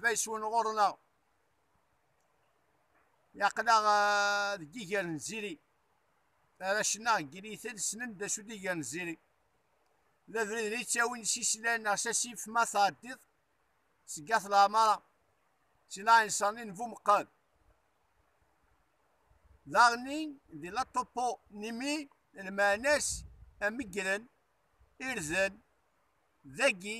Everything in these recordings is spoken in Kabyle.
Bayeswen ɣur-neɣ yaql-aɣ eh, deg iger n ziri arrac-nneɣ deg yinitel ssnen d acu d iger n ziri d abrid n yettawin s islan neɣ s asif ma tɛeddiḍ seg at leɛmara si laɛinṣer-nni n bumeqqad daɣen-nni di la topo nimi lmeɛna-s amegren irden dagi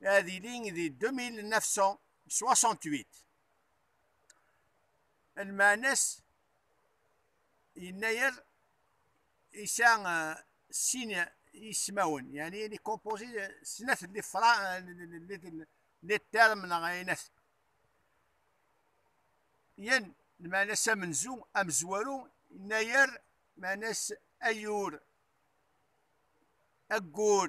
ad yili di 2968 lmeɛna-s yennayer isɛa eh, sin ismawen yani il est composé de snat li fra li term neɣ ayinat yan lmeɛna-s amenzu amezwaru yennayer meɛna-s ayyur aggur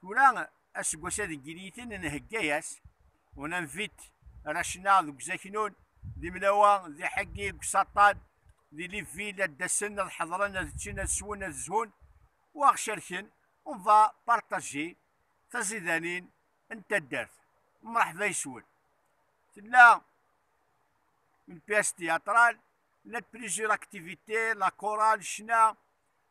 Tura aseggas-a deg yiniten nhegga-as, on invite Rachna deg uzaknun, d imnawa, d iḥeggi deg usaṭṭan, di Libreville ad d-asen, ad ḥedṛen, ad ččen, ad swen, ad zhun u ad ɣ-cerken, on va partager, taẓidanin n taddart. Mṛeḥba yes-wen. Tella une pièce théâtrale, la plusieurs activités, la chorale, ccna,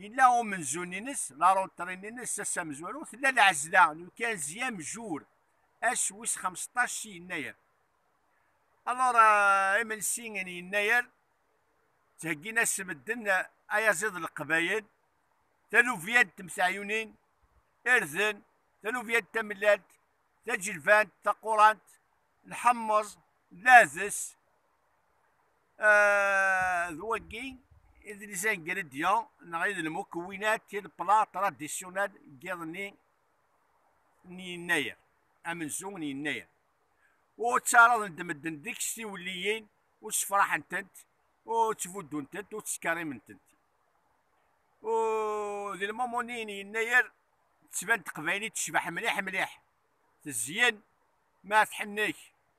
Yella umenzu-nnes, laruṭri-nnes, ass amezwaru, tella lɛezla n ukanzi amjur, ass wis xemseṭṭac si yennayer. Alors, euh, imensi n yennayer, ttheggin-as medden ayaziḍ n Leqbayel, taluvya n temteɛyunin, irden, taluvya n tamellalt, taǧelbant, taqurant, lḥemmeẓ, lades, euh, d wagi i d les ingrédients neɣ i d lmukwinat i d plat traditionnel giḍ-nni n yennayer amenzu n yennayer ur ttaraḍen-d medden deg-s tiwelliyin ur ssefraḥen-tent ur ttbuddunt-tent ur ttkerrimen-tent ur di lmumuni n yennayer tettban teqbaylit tecbeḥ mliḥ mliḥ tezyen ma tḥennek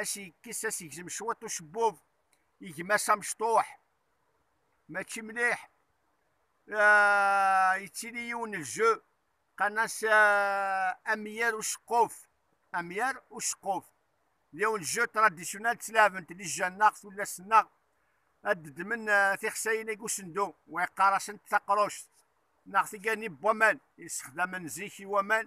as yekkes as yegzem cwiṭ ucebbub yegma-s amecṭuḥ mačči mliḥ ah, yettili yiwen lju qan-as ah, amyar uceqquf amyar uceqquf d yiwen lju tradisyonal ttlaɛbent di jjan-nneɣ tullas-nneɣ ad d-ddmen ah, tixsayin-agi usendu wa yeqqar-asent taqruct neɣ tigani n waman yessexdamen zik i waman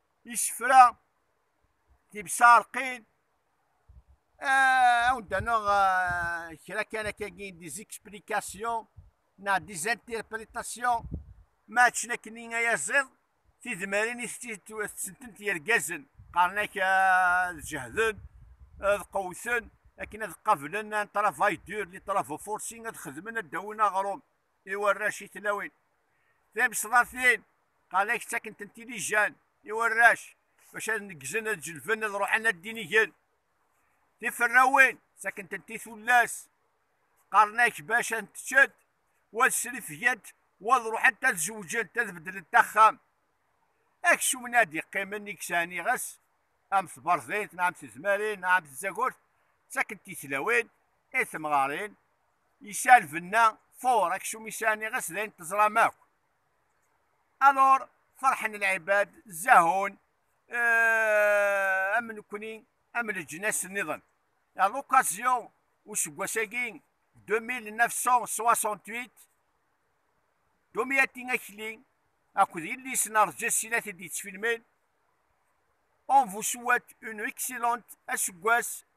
isefra tibsarqin aw d-aneɣ kra kan akkagi des explications neɣ des interprétations ma akken akken i ayaziḍ tidmarin i tettent yergazen qqaren-ak ad jehden ad qewwten akken ad qablen un travail dur li travaux forcing ad xedmen ad dawin aɣrum i warrac i tlawin timesḍatin qal ak ttakkent-tent ilijan i warrac bac ad neggzen ad jelben ad ruḥen ad dinigen tiferrawin ttakkent-tent i tullas qqaren ak bac ad teččent wa srifgent wa ad ruḥent ad zewǧent ad beddlent axxam aksum ad yeqqimen i yesɛan iɣes am tberḍit neɣ am tezmarin neɣ am tzagurt ttakkent i tlawin i temɣarin Yesɛa lbenna fur aksum yesɛa niɣes d ayen teẓram akk. Alor ferḥen lɛibad zahun am nekni am leǧnas nniḍen. À l'occasion useggas-agi 2968 Domiati Akli akked yelli-s n Rǧas i la t-id-yettfilmen On vous souhaite une excellente aseggas